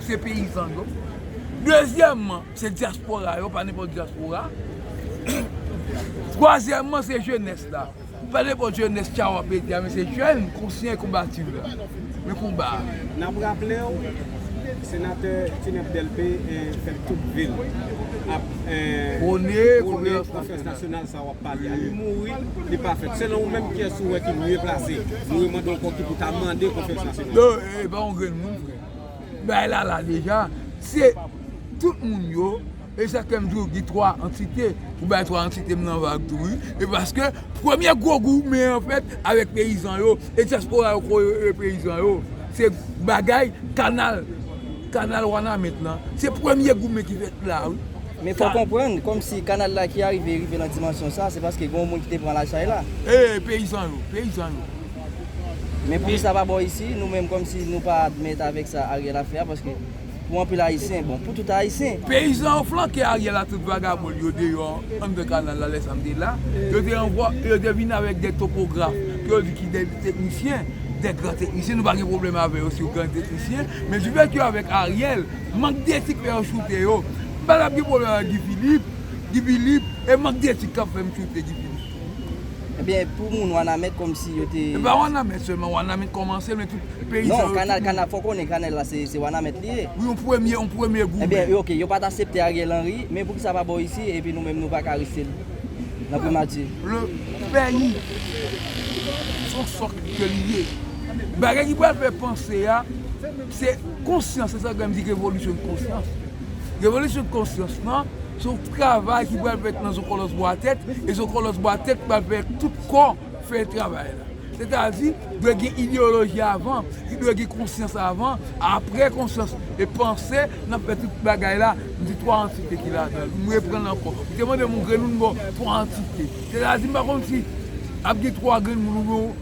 Se peyizan yo. Dezyèmman, se dyaspora yo, pa nenpòt dyaspora. Twazyèmman, se jenès la. Pa nenpòt jenès tcha w ap mete a men se jèn konsyan e konbatif la. Nan konba a. N ap raple w, Senatè Tinèp Dèlpe fè tout vil ap. Pwone konferans nasyonal sa. Sa wap pale a li mouri li pa fèt selon ou menm kiyès ou wè ki mye plase nou yo mande w kò ki pou ta mande konfyans la selon ou. Yo epa yon grenn moun frè. Bagay la la deja, se tout moun yo, e sa fèm diw gen 3 antite, ou bay 3 antitem nan vag tou wi, e paske premye gwo goumen an fèt avèk peyizan yo e dyaspora yo kò yo e peyizan yo, se bagay kanal kanal wanament lan, se premye goumen ki fèt la wi. Men fòw konprann, kòm si kanal la ki arive rive lan dimansyon sa, se paske gen yon moun ki te pran la chay la. Eey peyizan yo, peyizan yo. Men pou kisa pa bò isi, nou menm kòm si nou pa admèt avèk sa Ariel ap fè a, paske pou anpil ayisyen, bon pou tout ayisyen. Peyizan yo flanke Ariel a tout vagabon yo deyò anndan kanal la lè sa m te la, yo te anvò, yo te vin avèk 2 topograf ke yo di ki 2 teknisyen, 2 gran teknisyen, nou pa gen pwoblèm avè yo si yo gran teknisyen, men difèt yo avèk Ariel, Mank d'etik fè yo choute yo. M pa tap gen pwoblèm ak Guy Philippe, Guy Philippe, e mank d'etik kap fè m choute Guy Philippe tou. Ebyen pou moun wanament komsi yo te. E pa wanament selman, wanament komanse men tout peyizan yo tout moun. Fò w konnen kanèl la se wanament li ye. Wi yon premye, yon premye goumen. Ebyen ok yo pat asepte Ariel Henry men poukisa pa bo isi epi nou menm nou paka reste nan primati. Le peyi son sòk ke li ye. Bagay ki pral fè panse a. Se konsyans, se sa Gandhi di revolisyon konsyans. Revolisyon konsyans lan, se yon travay ki pral fèt nan zonkòlòs bwa tèt, e zonkòlòs bwa tèt pral fè tout kò fè travay la. Sètadi, dwe gen ideyoloji avan, li dwe gen konsyans avan, apre konsyans e panse, n ap fè tout bagay la, m di 3 antite ki ladan l, m reprann l ankò. Ou te mande m yon grenn moun, m ba w 3 antite. Sètadi, m pa konn si ap gen 3 grenn moun oubyen yon.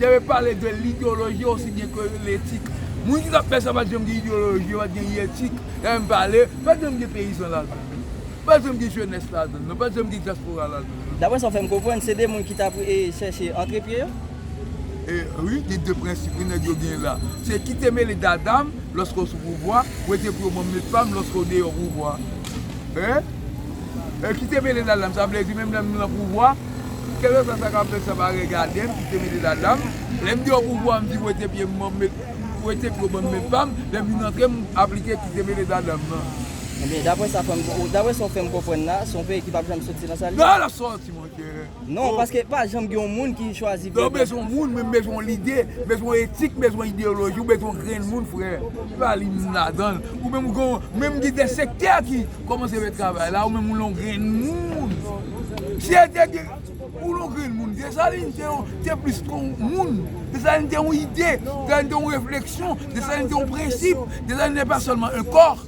Yo te pale de l'ideologie aussi bien que l'etik. Moun ki tap fè sa pat janm gen ideologie, yo pat gen yetik, yo menm pale, pat janm gen peyizan ladan l non. Pat janm gen jenès ladan l non, pat janm gen dyaspora ladan l non. Daprè sa w fè m konprann, se 2 moun ki tap chèche antre pye yo? E wi, gen 2 prensip wi nèg yo gen la. Se kite mele dada m lòske w sou pouvwa, wete pou yo ban m met pa m lòske w deyò pouvwa. E? E kite mele ladanm, sa vle di menm lè m lan pouvwa, kèlkeswa sa k ap fèt sa pa regade m, kite mele ladanm. Lè m deyò pouvwa m di wete pye m ban m met, wete pye w ban m met pa m, lè m vin antre m aplike kite mele ladanm nan. Ebyen, dapre sa w fè m konprann la, se yon peyi ki p ap janm soti nan sa l ye? Nan l ap soti monchè! Non, paske pa janm gen yon moun ki chwazi byen. Lè w bezwen yon moun, menm bezwen yon lide, bezwen yon etik, bezwen yon ideyoloji, ou bezwen yon grenn moun frè, se pa li menm ladan l. Ou menm ou gen yon, menm gen de sektè ki kòmanse fè travay la, ou menm ou yon grenn moun. Si e te gen, ou yon grenn moun. Desalin te yon, te plis ke yon moun. Desalin te yon ide, Desalin te yon refleksyon, Desalin te yon prensip, Desalin ne pa sèlman un corps.